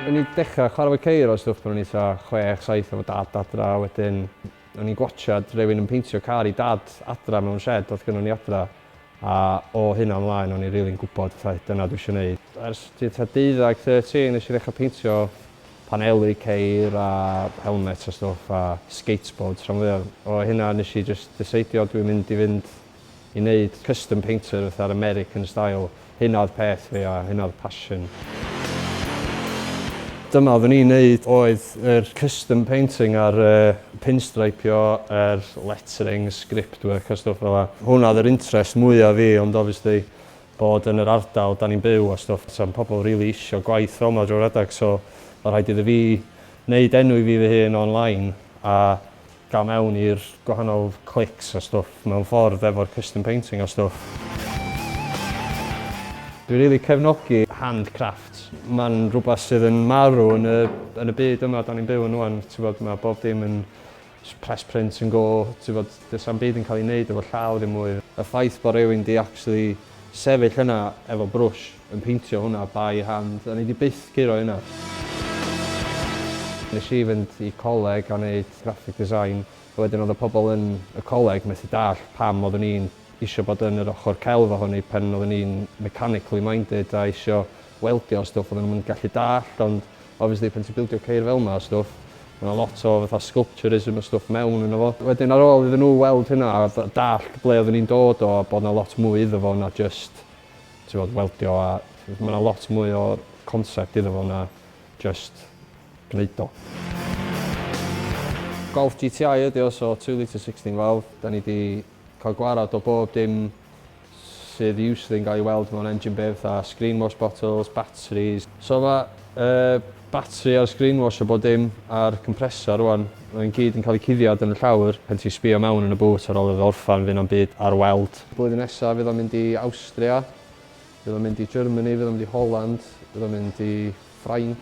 O'n i'n dechrau chwarae efo ceir os dwch pan o'n i tua chwech, saith efo dad adra a wedyn o'n i'n gwatshad rhywun yn peintio car i dad adra mewn shed oedd gynnon ni adra a o hynna ymlaen o'n i'n rili'n gwybod fatha dyna dwi eisiau wneud. Ers tua deuddag, thirteen, nes i ddechrau peintio paneli ceir a helmets a stwff a skateboards rhan fwya o hynna nes i jyst diseidio dwi'n mynd i fynd i neud custom painter fatha'r American style hynna oedd peth fi a hynna oedd passion dyma oeddwn i'n neud oedd yr custom painting a'r pinstreipio yr lettering script work a stwff fela hwnna oedd yr interest mwya fi ond obviously bod yn yr ardal dan ni'n byw a stwff sa'm pobl rili isio gwaith fel ma drwy'r adag so ma rhaid iddo fi neud enw i fi fy hun online a gal mewn i'r gwahanol clics a stwff mewn ffordd efo'r custom painting a stwff. Dwi rili cefnogi hand crafts, ma'n rwbath sydd yn marw yn y yn y byd yma dan ni'n byw yn ŵan t'bod ma bob dim yn Press print yn go, tibod, does na'm byd yn cael ei wneud efo llaw ddim mwy. Y ffaith bod rhywun 'di actually sefyll yna efo brwsh yn peintio hwnna by hand, o'n i 'di byth curo hynna. Nes i fynd i coleg a neud graphic design, a wedyn oedd y pobl yn y coleg methu dallt pam oeddwn i'n isio bod yn yr ochr celf ohoni pan oeddwn i'n mechanically minded a isio weldio a stwff oedden nhw'm yn gallu dallt ond obviously pan ti'n bildio ceir fel yma a stwff ma' 'na lot o fatha sculpturism a stwff mewn yno fo. Wedyn ar ôl iddyn nhw weld hynna a dallt ble oedden ni'n dod o a bod 'na lot mwy iddo fo na jyst t'mod weldio a ma' 'na lot mwy o concept iddo fo na jyst gneud o. Golff GTI ydi o so two litre sixteen valve 'dan ni 'di Cael gwared o bob dim sydd usually yn cael ei weld mewn engine bay fatha screen wash bottles, batteries. So mae y batri a'r screen wash a bob dim a'r compressor rwan, mae'n gyd yn cael eu cuddiad yn y llawr pan ti'n sbio mewn yn y boot ar ôl iddo orffen fydd na'm byd ar weld. Blwyddyn nesa fydd o'n mynd i Awstria, fydd o'n mynd i Germany, fydd o'n mynd i Holland, fydd o'n mynd i Ffrainc.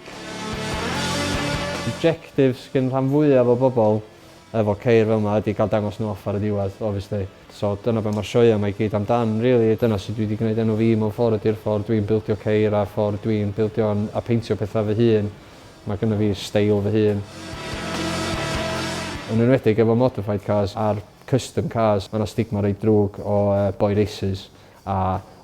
Objectives gin rhan fwyaf o bobl efo ceir fel 'ma ydi cael dangos nhw off ar y diwedd, obviously. So dyna be mae'r sioeau 'ma i gyd amdan rili, dyna sut dwi 'di gwneud enw fi mewn ffordd ydi'r ffordd dwi'n bildio ceir a'r ffordd dwi'n bildio a peintio pethau fy hun. Mae gynna fi steil fy hun. Yn enwedig efo modified cars a'r custom cars, mae 'na stigma reit ddrwg o boi races. a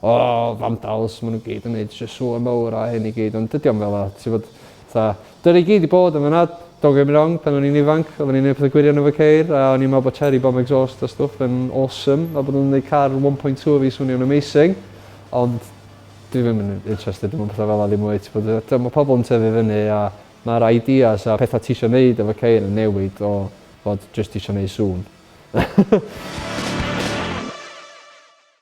o vandals ma' n'w gyd yn neud shw sŵ mowr a hyn i gyd ond dydi o'm fela t'bod fatha dyna i gyd i bod yn fana don't get me wrong pan o'n i'n ifanc odden ni'n neud pethe gwirion efo ceir a o'n i'n me'wl bo' cherry bomb exhaust a stwff yn awesome a bo' nw'n neud car one point two o fi swnio'n amazing ond dwi ddim yn interested mewn petha fela ddim mwy t'bod yy t'mo' ma' pobol yn tyfu fyny a ma'r ideas a petha tisio neud efo ceir yn newid o fod jyst isio neu' sŵn.